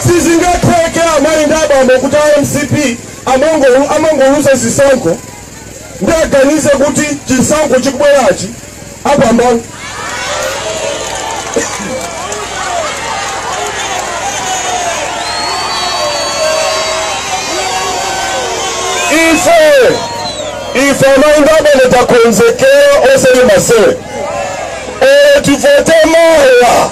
sizingatheke amayi ndi abambo kuti a mcp amango- amangoluza zisankho nde aganize kuti chisankho chikubwerachi apambana ife ife amayi ndi abambo takonzekera osati masewera olo tivote mawa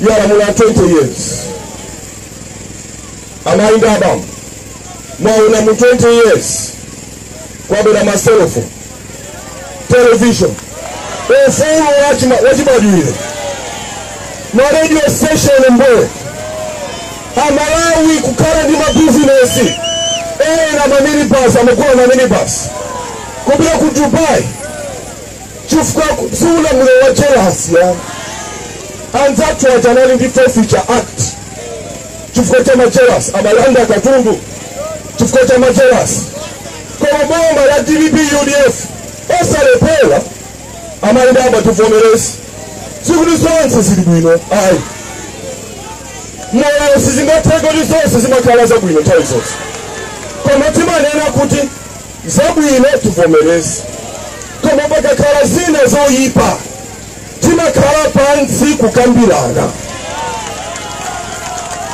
yalamula 20 years amayi ndi abambo mwaona mu 20 years kwabwera maselofoni television ufulu wachima- wachibadwire ma radio station mbwe amalawi kukhala ndi mabizinesi ena maminibasi amagula maminibasi kupita ku dubai chifukwa si ulamuliro wa jealous ayi anzathu aja anali ndi forfeiture act chifukwa cha majealous amalanda katundu chifukwa cha majealous koma boma la dpp udf osalephera amayi ndi abambo tivomereze sikuti zonse zili bwino ayi moyo sizingatheke kuti zonse zimakhala zabwino nthawi zonse koma timanena kuti zabwino tivomereze koma pakakhala zina zoyipa timakhala pansi kukambirana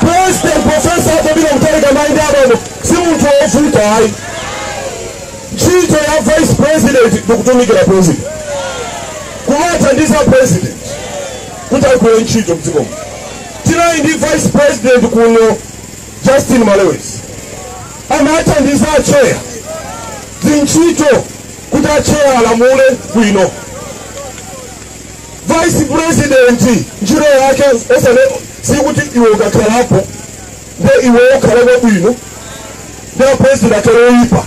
president profesa arthur peter mutharika amayi ndi abambo si munthu wovuta ayi ntchito ya vice president ndikutumikira president kumathandiza president kuti agwire ntchito mdzikomu tinali ndi vice president kuno Justin Malewezi amathandiza atcheya zintchito kuti atcheya alamule bwino vice president ntchito yake osale sikuti iwe ukakhalapo nde iwe ukhale wabwino nde apulezidenti akhale oyipa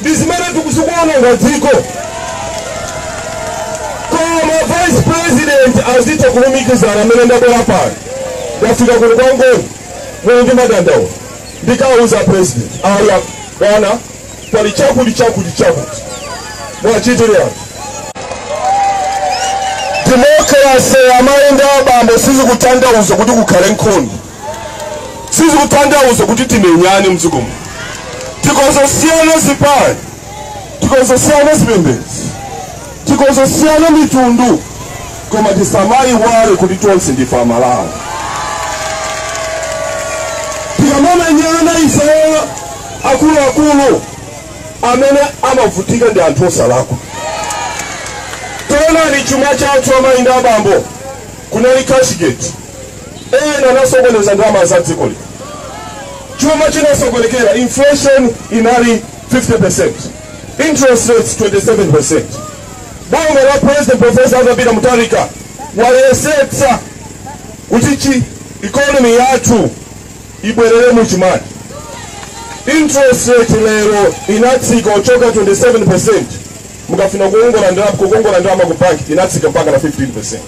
ndi zimene ziku- zikuononga dziko koma vice president azitha kulumikizana mmene ndabwera pano ndafika kuno kwa ngoni muli ndi madandaulo ndikauza president aya bwana pali chakuti chakuti chakuti muwachitire anthu demokrase amayi ndi abambo sizikutanthauza kuti kukhale nkhondo sizikutanthauza kuti timenyane mdziko muno tikhoza kusiyana zipani tikhoza kusiyana zipembedzo tikhoza kusiyana mitundu koma tisamayiwale kuti tonse ndife amalawi tikamamenyana ifeyo akuluakulu amene amavutika ndi anthu osalakwa tonani chuma chathu amayi ndi abambo Kunali cashgate, ena anasokoneza ndalama za dziko lino, chuma chinasokonekera, inflation inali 50%, interest rates 27%. Boma la President Professor Arthur Peter Mutharika wayesetsa kuti economy yathu ibwerere mu chimake. Interest rate lero inatsika kuchoka 27% mukafuna kukongola ndalama ku bank inatsika mpaka na 15%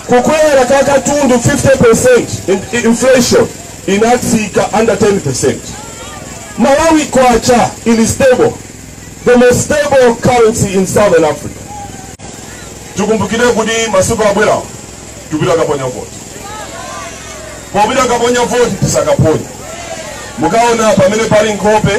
kukwera kwa katundu 50% in- in- inflation inatsika under 10% malawi kwacha ili stable the most stable currency in southern africa tikumbukire kuti masiku akubwerawo tipita kaponya voti popita kaponya voti tizakaponya mukaona pamene pali nkhope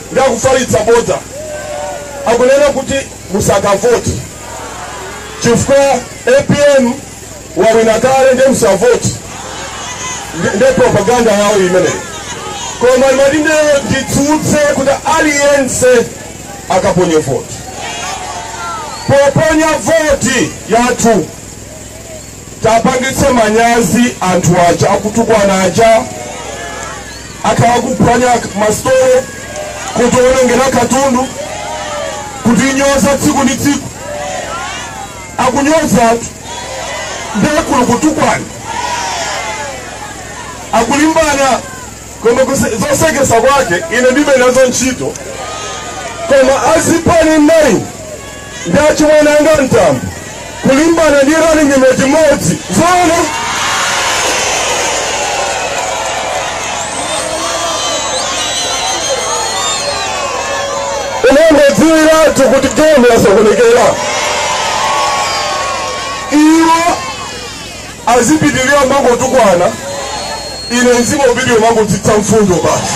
akufalitsa bodza akunena kuti musakavoti chifukwa apm wawina kale nde musavoti Nde propaganda yawo imeneyi koma ndimati lero nditsutse kuti aliyense akaponye voti poponya voti yathu Tiwapangitse manyazi anthu aja akutukwana aja, akhala akuphwanya masitolo, kutiwonongera katundu, kutinyoza tsiku ndi tsiku. Akunyoza anthu ndiye kuli kutukwana, akulimbana koma zoseketsa kwake ine ndibe nazo ntchito koma azipani 9 ndi achimwene anga Mtambo kulimbana ndi running mate mmodzi. Zoona? Umangodziwiratu kuti game yasokonekera. Iwo azipitiriza kumangotukwana, ine ndizipitiriza kumangotsitsa mfundo basi.